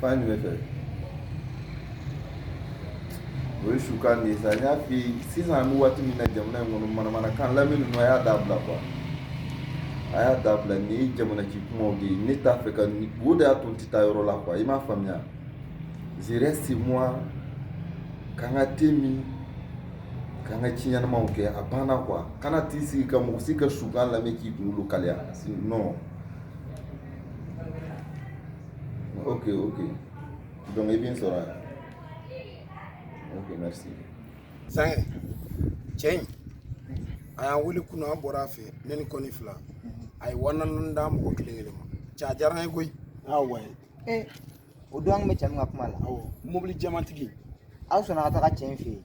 Fan jumɛn fɛ? O ye sukan de ye sa n y'a f'i ye sisan an bɛ waati min na jamana in kɔnɔ manamanakan lamɛn ninnu a y'a dabila quoi a y'a dabila nin ye jamana ci kumaw de ye ne t'a fɛ ka o de y'a to n tɛ taa yɔrɔ la quoi i m'a faamuya je reste chez moi k'an ka te min k'an ka ci ɲɛnamaw kɛ a banna quoi kana t'i sigi ka mɔgɔ si ka sukan lamɛn k'i kunkolo kalaya non ok ok donc i bɛ n sɔrɔ yan ok merci. zankɛ cɛ in a y'an wele kunun an bɔra a fɛ ne ni kɔni fila a ye wa naani d'a mɔgɔ kelen kelen ma cɛ a diyara an ye koyi. awa ee o don an bɛ cɛ min ka kuma la mobili jɛmantigi aw sɔnna ka taga cɛ in fɛ yen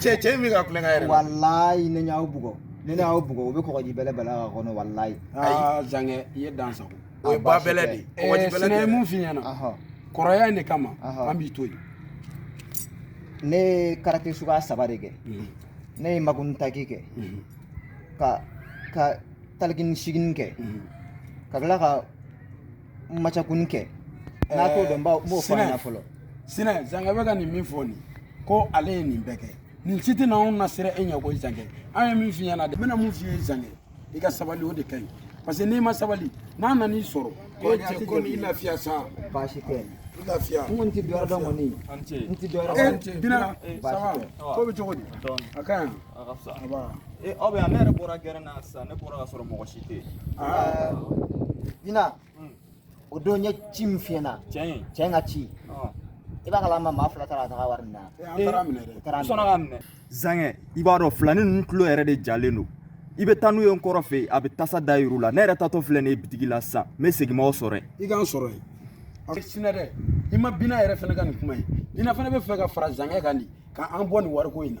cɛ cɛ min ka kulonkɛ yɛrɛ walayi ne y'aw bugɔ ne y'aw bugɔ u bɛ kɔgɔji belebele ka kɔnɔ walayi aa zankɛ i ye dan sago o ye ba bɛlɛ de ye ne ye min f'i ɲɛna kɔrɔya in de kama an b'i to yen ne ye karate suguya saba de kɛ mhm. ne ye makuni taki kɛ mhm. ka ka talikini sigini kɛ mhm. ka tila ka macakun kɛ n'a t'o dɔn n b'o f'a ɲɛna fɔlɔ sinɛ zankɛ bɛ ka nin min fɔ nin ko ale ye nin bɛɛ kɛ nin si tɛna anw nasiran e ɲɛ ko zankɛ an ye min f'i ɲɛna de n bɛna min f'i ye zankɛ i ka sabali o de ka ɲi parce que n'i ma sabali n'a nan'i sɔrɔ ko cɛ ko n'i lafiya sa baasi tɛ lafiya n kɔni tɛ dɔwɛrɛ dɔn kɔni n tɛ dɔwɛrɛ dɔn bina ko bɛ cogo di a ka ɲi A ka fisa. Anba. Ee aw bɛ yan ne yɛrɛ bɔra gɛrɛn na sisan ne bɔra ka sɔrɔ mɔgɔ si tɛ yen. Aa. Bina. Hmm. O don n ye ci min f'i ɲɛna. Cɛ in. Cɛ in ka ci. i b'a kalama maa fila taara ka taga wari minɛ an taara minɛ dɛ u sɔnna ka minɛ zankɛ i b'a dɔn filani ninnu tulo yɛrɛ de jalen don i bɛ taa n'u ye n kɔrɔ fɛ yen a bɛ tasa da yir'u la ne yɛrɛ taatɔ filɛ nin ye bitigi la sisan n bɛ segin m'aw sɔrɔ yen i k'an sɔrɔ yen a bɛ sinɛ dɛ i ma bina yɛrɛ fɛnɛ ka nin kuma ye bina fɛnɛ bɛ fɛ ka fara zankɛ kan dɛ k'an bɔ nin wariko in na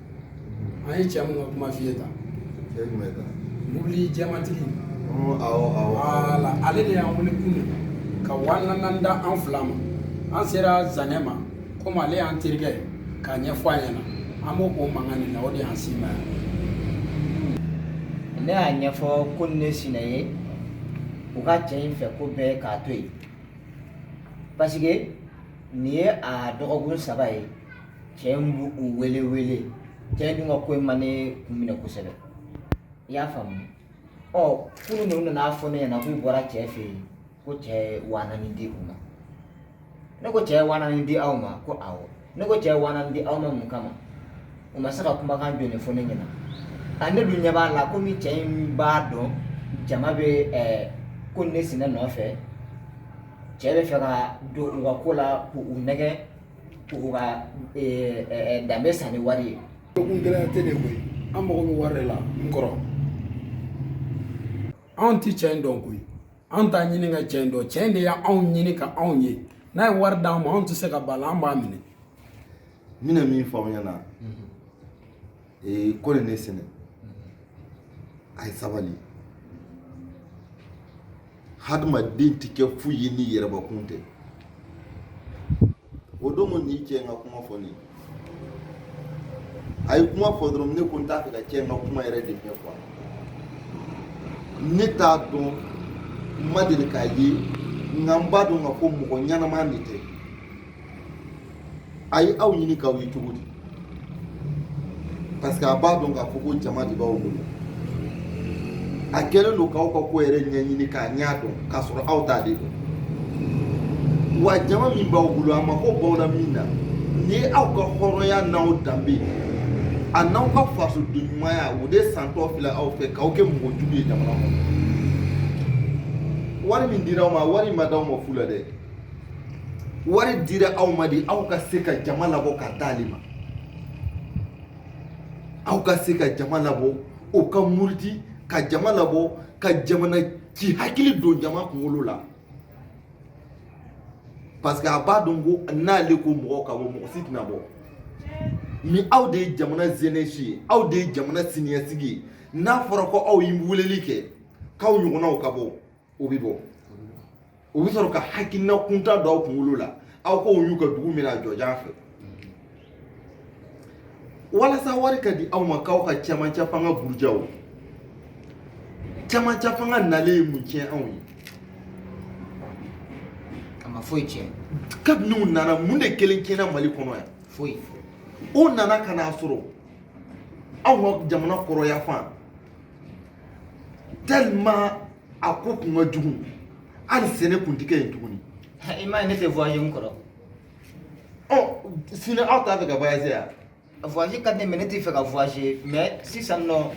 an ye cɛ min ka kuma f'i ye tan cɛ jumɛn ta mobili jɛmantigi wala ale de y'an wele kunun ka wa naani da an fila ma an sera zankɛ ma komi ale y'an terikɛ ye k'a ɲɛfɔ a ɲɛna an b'o o mankan in na o de y'an s'i ma yan ne y'a ɲɛfɔ ko ni ne sinɛ ye u ka cɛ in fɛ ko bɛɛ k'a to yen parce que nin ye a dɔgɔkun saba ye cɛ in b'u u wele wele cɛ in dun ka ko in ma ne kun minɛ kosɛbɛ i y'a faamu ɔ kunun de u nana fɔ ne ɲɛna k'u bɔra cɛ fɛ yen ko cɛ ye waa naani di u ma ne ko cɛ ye waa naani di aw ma ko awɔ ne ko cɛ ye waa naani di aw ma mun kama u ma se ka kumakan jɔlen fɔ ne ɲɛna a ne dun ɲɛ b'a la komi cɛ in b'a dɔn jama bɛ ɛɛ ko ne sinɛ nɔfɛ cɛ bɛ fɛ ka don u ka ko la k'u nɛgɛ U ka danbe san ni wari ye kungɛlɛya tɛ de koyi an mago bɛ wari la n kɔrɔ anw tɛ cɛ in dɔn koyi an t'a ɲini ka cɛ in dɔn cɛ in de y'anw ɲini ka anw ye n'a ye wari d'an ma anw tɛ se ka ban a la an b'a minɛ n bɛna min fɔ aw ɲɛna ee ko nin ne sɛnɛ a ye sabali hadamaden tɛ kɛ foyi ye ni yɛrɛbakun tɛ o don ko nin cɛ in ka kuma fɔlen a ye kuma fɔ dɔrɔn ne ko n t'a fɛ ka cɛ in ka kuma yɛrɛ de mɛn quoi ne t'a dɔn n ma deli k'a ye nka n b'a dɔn k'a fɔ mɔgɔ ɲɛnama de tɛ a ye aw ɲini k'aw ye cogo di parce que a b'a dɔn k'a fɔ ko jama de b'aw bolo a kɛlen don k'aw ka ko yɛrɛ ɲɛɲini k'a ɲɛ dɔn k'a sɔrɔ aw t'ale dɔn wa jama min b'aw bolo a mako b'aw la min na ni ye aw ka hɔrɔnya n'aw danbe a n'aw ka fasoden ɲumanya o de santɔ filɛ aw fɛ k'aw kɛ mɔgɔ jugu ye jamana kɔnɔ wari min dira aw ma wari ma d'aw ma fu la dɛ wari dira aw ma de aw ka se ka jama labɔ ka d'ale ma aw ka se ka jama labɔ o ka muruti ka jama labɔ ka jamana ci hakili don jama kunkolo la parce que a b'a dɔn ko n'ale ko mɔgɔw ka bɔ mɔgɔ si tɛna bɔ ni aw de ye jamana jeunesse ye aw de ye jamana siniɲɛsigi ye n'a fɔra ko aw ye weleli kɛ k'aw ɲɔgɔnnaw ka bɔ o bɛ bɔ o bɛ sɔrɔ ka hakilina kuntan don aw kunkolo la aw ka woyo ka dugu minɛ a jɔjan fɛ walasa wari ka di aw ma k'aw ka cɛmancɛ fanga buruja o cɛmancɛ fanga nalen ye mun tiɲɛ anw ye a ma foyi tiɲɛ kabini u nana mun de kelen tiɲɛna mali kɔnɔ yan foyi o nana ka n'a sɔrɔ aw ka jamana kɔrɔn yanfan tellement a ko kun ka jugu hali sɛnɛ kun tɛ kɛ yen tuguni i m'a ye ne tɛ voyager n kɔrɔ ɔ sini aw t'a fɛ ka voyager yan voyager ka di ne mais ne tɛ fɛ ka voyager mais sisan nɔ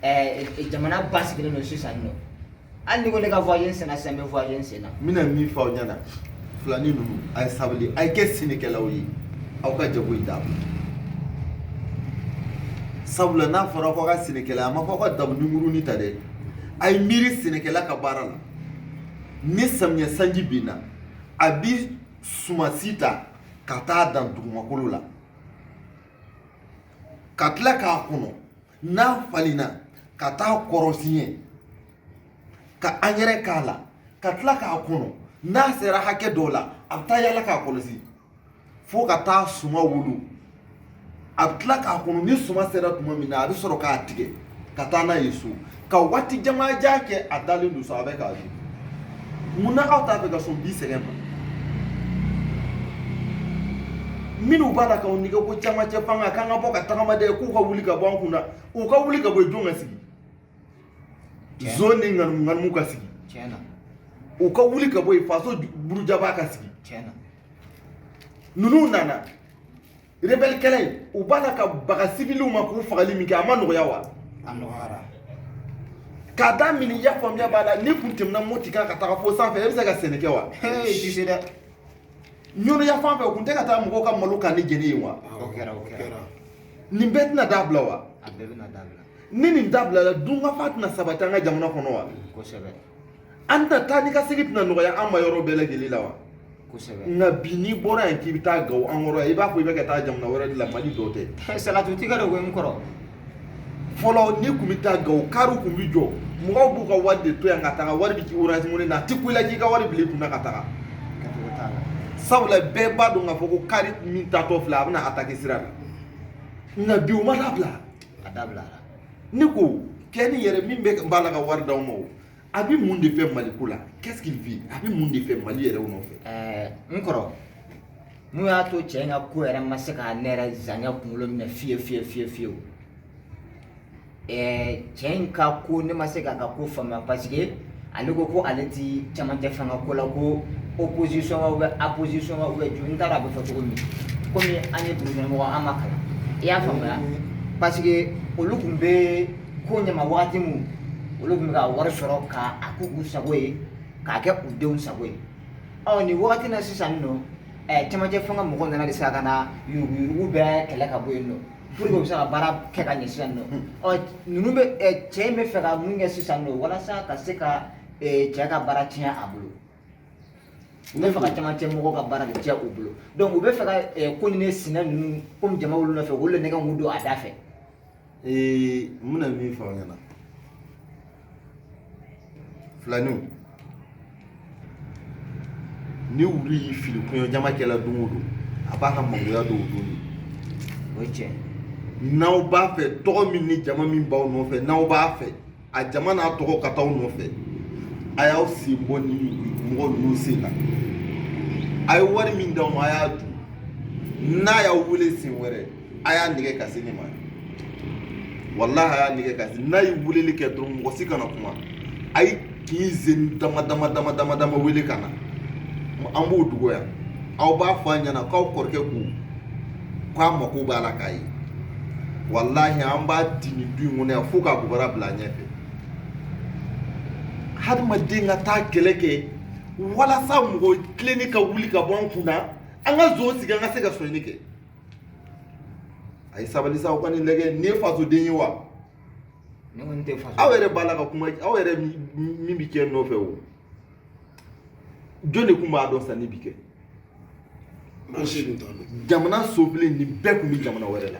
ɛɛ jamana basigilen don sisan nɔ hali ni ko ne ka voyage senna sisan n bɛ voyage senna n bɛna min fɔ aw ɲɛna filani ninnu a ye sabali a ye kɛ sɛnɛkɛlaw ye aw ka jago in dabila sabula n'a fɔra ko aw ka sɛnɛkɛla a ma fɔ aw ka daba ni murunin ta dɛ a ye miiri sɛnɛkɛla ka baara la ni samiyɛ sanji binna a bi sumasi ta ka taa dan dugumakolo la ka tila k'a kɔnɔ n'a falenna ka taa kɔrɔsiɲɛ ka angɛrɛ k'a la ka tila k'a kɔnɔ n'a sera hakɛ dɔ la a bɛ taa yala k'a kɔlɔsi fo ka taa suma wolo a bɛ tila k'a kɔnɔ ni suma sera tuma min na a bɛ sɔrɔ k'a tigɛ ka taa n'a ye so ka waati jamanjan kɛ a dalen don so a bɛ k'a dun mun na aw t'a fɛ ka sɔn bi sɛgɛn ma minnu b'a la k'aw nɛgɛn ko camancɛ fanga k'an ka bɔ ka tagama dɛ k'u ka wuli ka bɔ an kun na u ka wuli ka bɔ yen jɔn ka sigi zon ni ŋanimu ka sigi u ka wuli ka bɔ yen faso burujabaa ka sigi ninnu nana rebelle kɛlɛ in u b'a la ka baga civiliw ma k'u fagali min kɛ a ma nɔgɔya wa a nɔgɔyara k'a daminɛ i y'a faamuya b'a la n'i kun tɛmɛna moti kan ka taga fo sanfɛ e bɛ se ka sɛnɛ kɛ wa i ti se dɛ ɲɔnɔ yan fan fɛ u kun tɛ ka taa mɔgɔw ka malo kannen jeni yen wa o kɛra o kɛra nin bɛɛ tɛna dabila wa a bɛɛ bɛna dabila ni nin dabilala dunkafa tɛna sabati an ka jamana kɔnɔ wa kosɛbɛ an tɛna taa ni ka segin tɛna nɔgɔya an ma yɔrɔ bɛɛ lajɛlen la wa kosɛbɛ nka bi n'i bɔra yan k'i bɛ taa gawo an kɔrɔ yan i b'a fɔ i bɛ ka taa jamana wɛrɛ de la mali dɔ tɛ salatu tigɛ de ko n kɔrɔ fɔlɔ n'i tun bɛ taa gawo kariw tun bɛ jɔ mɔgɔw b'u ka wari de to yan ka taga wari bɛ k'i orange money na a tɛ kun i la k'i ka wari bila i kunna ka taga kɛcogo t'a la sabula bɛɛ b'a dɔn k'a fɔ ko kari min taatɔ filɛ a bɛna atake sira la nka bi o ma dabila a dabilara ne ko cɛ nin yɛrɛ min bɛ b'a la ka wari d'aw ma o a bɛ mun de fɛ maliko la qu'est-ce qu'il veut a bɛ mun de fɛ mali yɛrɛ nɔfɛ ɛɛ n kɔrɔ mun y'a to cɛ in ka ko yɛrɛ ma se ka ne yɛrɛ zanya kunkolo minɛ fiye fiye fiye fiyewu ɛɛ cɛ in ka ko ne ma se k'a ka ko faamuya parce que ale ko ko ale ti camancɛ fanga ko la ko opposition wa ou bien apposition wa ou bien jumɛn n t'a dɔn a bɛ fɔ cogo min komi an ye dugukɔnɔmɔgɔ an ma kalan i y'a faamuya parce que olu tun bɛ ko ɲɛma wagati min olu tun bɛ ka wari sɔrɔ ka a k'u k'u sago ye k'a kɛ u denw sago ye ɔ nin wagati na sisan nɔ ɛɛ cɛmancɛ fanga mɔgɔw nana de sisan ka na yuruguyurugu bɛɛ kɛlɛ ka bɔ yen nɔ pour que u bɛ se ka baara kɛ ka ɲɛ sisan nɔ ɔ ninnu bɛ ɛɛ cɛ in bɛ fɛ ka mun kɛ sisan nɔ walasa ka se ka ɛɛ cɛ ka baara tiɲɛ a bolo u bɛ fɛ ka cɛmancɛ mɔgɔw ka baara de tiɲɛ u bolo donc u bɛ fɛ ka ɛɛ ko ni ne sinɛ ninnu komi jama b'olu nɔfɛ olu de nɛgɛn mun don a da fɛ ee n bɛna min fɔ aw ɲɛna filaninw ni wulu y'i fili kɔɲɔjama kɛla don o don a b'a ka mangoya dɔw don de o ye tiɲɛ ye n'aw b'a fɛ tɔgɔ min ni jama min b'aw nɔfɛ n'aw b'a fɛ a jama n'a tɔgɔ ka t'aw nɔfɛ a y'aw sen bɔ nin mɔgɔ ninnu sen na a ye wari min d'aw ma a y'a dun n'a y'aw wele sen wɛrɛ a y'a nɛgɛ ka se ne ma walahi a y'a nɛgɛ ka se n'a ye weleli kɛ dɔrɔn mɔgɔ si kana kuma a ye k'i zen dama dama dama dama dama wele ka na an b'o dogo yan aw b'a fɔ a ɲɛna k'aw kɔrɔkɛ ko k'a mako b'a la k'a ye walahi an b'a di nin du in kɔnɔ yan fo k'a bubara bila a ɲɛfɛ hadamaden ka taa kɛlɛ kɛ walasa mɔgɔ tilenni ka wuli ka bɔ an kun na an ka zon sigi an ka se ka sonyani kɛ a ye sabali sa aw ka nin lajɛ nin ye fasoden ye wa aw yɛrɛ b'a la ka kuma aw yɛrɛ min bɛ cɛ nɔfɛ o jɔn de tun b'a dɔn sanni bi kɛ jamana sobilen nin bɛɛ tun bɛ jamana wɛrɛ la